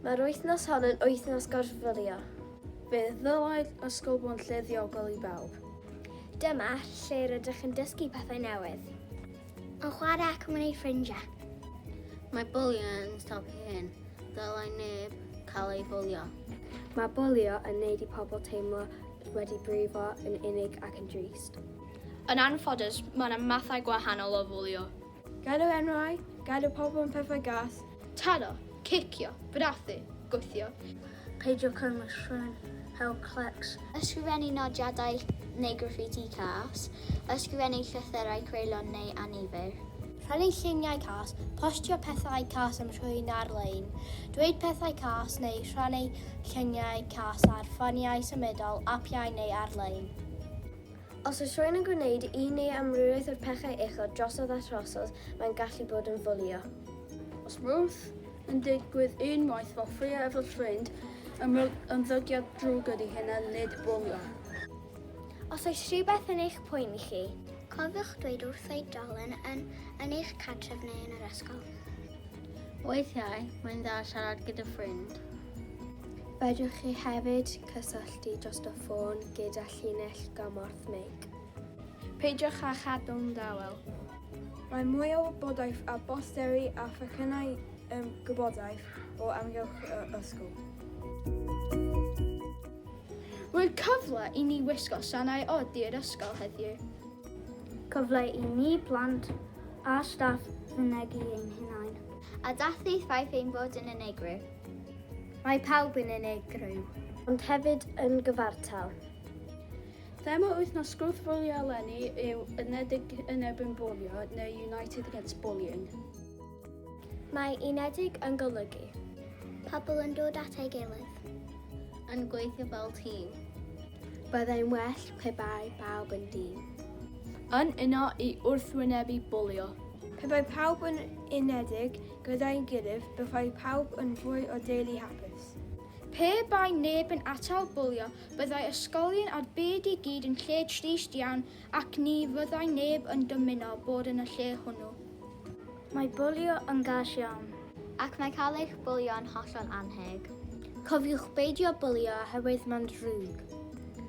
Mae'r wythnos hon yn wythnos gorfylio. Fe ddylai'r ysgol bod yn lle ddiogel i bawb. Dyma lle rydych yn dysgu pethau newydd. Yn chwarae ac yn gwneud ffrindiau. Mae bwlio yn stop i hyn. Dylai neb cael ei bwlio. Mae bwlio yn neud i pobl teimlo wedi brifo, yn unig ac yn drist. Yn anffodus, mae yna mathau gwahanol o fwlio. Galw enwau, galw pobl am pethau gas. Taro, cicio, brathu, gwthio. Peidio cynnwys rhywun heb clecs. Ysgrifennu nodiadau neu graffiti cas. Ysgrifennu llythyrau creulon neu annifyr. Rhannu lluniau cas. Postio pethau cas am rhywun ar-lein. Dweud pethau cas neu rhannu lluniau cas ar ffoniau symudol, apiau neu ar-lein. Os oes rhywun yn gwneud un neu amrywiaeth o'r pechau uchod drosodd a throsodd, mae'n gallu bod yn fwlio. Os wrth yn digwydd unwaith fel ffraeo efo ffrind, ymddygiad drwg ydy hyn a nid bwlio. Os oes rhywbeth yn eich poeni chi. Cofiwch dweud wrth oedolyn yn yn eich cartref neu yn yr ysgol. Weithiau, mae'n dda siarad gyda ffrind. Fedrwch chi hefyd Cysylltu dros y ffôn gyda llinell gymorth meic. Peidiwch â chadw'n dawel. Mae mwy o wybodaeth a bosteri a phecynnau um, gwybodaeth o amgylch y ysgol. Roedd cyfle i ni wisgo sanau od i'r ysgol heddiw. Cyfle i ni plant a staff fynegi ein hunain. A dath ei ffaith ein bod yn unigryw. Mae pawb yn unigryw. Ond hefyd yn gyfartal. Thema wythnos gwrthbwlio eleni yw Unedig yn erbyn bwlio neu United Against Bullying. Mae unedig yn golygu. Pobl yn dod at ei gilydd. Yn gweithio fel tîm. Byddai'n well pe bai pawb yn dîm. Yn uno i wrthwynebu bwlio. Pe bai pawb yn unedig Gyda'i gilydd, byddai pawb yn fwy o deulu hapus. Pe bai neb yn atal bwlio, byddai ysgolion a'r byd i gyd yn lle trist iawn ac ni fyddai neb yn dymuno bod yn y lle hwnnw. Mae bwlio yn gas iawn. Ac mae cael eich bwlio yn hollol annheg. Cofiwch beidio bwlio oherwydd mae'n ddrwg.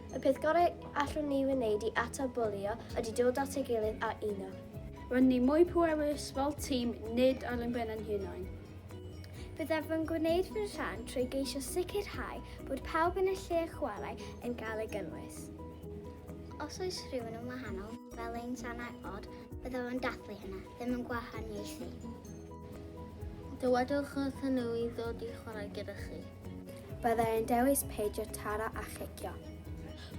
Y peth gorau allwn ni wneud i atal bwlio ydy dod at ei gilydd a uno. Rydyn ni mwy pwerus fel tîm, nid ar ein ben ein hunain. Byddaf yn gwneud fy rhan trwy geisio sicrhau bod pawb yn y lle chwarae yn cael ei gynnwys. Os oes rhywun yn wahanol, fel ein sanau od, byddaf yn dathlu hynna, ddim yn gwahaniaethu. Dywedwch wrthyn nhw i ddod i chwarae gyda chi. Byddai yn dewis peidio taro a chicio.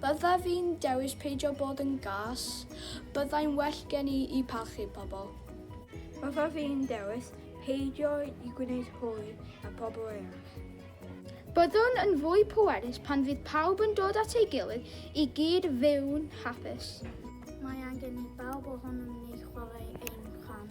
Bydda fi'n dewis peidio bod yn gas. Byddai'n well gen i i parchu pobl. Bydda fi'n dewis peidio i gwneud hwy na pobl eraill. Byddwn yn fwy pwerus pan fydd pawb yn dod at ei gilydd i gyd fyw'n hapus. Mae angen i bawb ohonom ni chwarae ein rhan.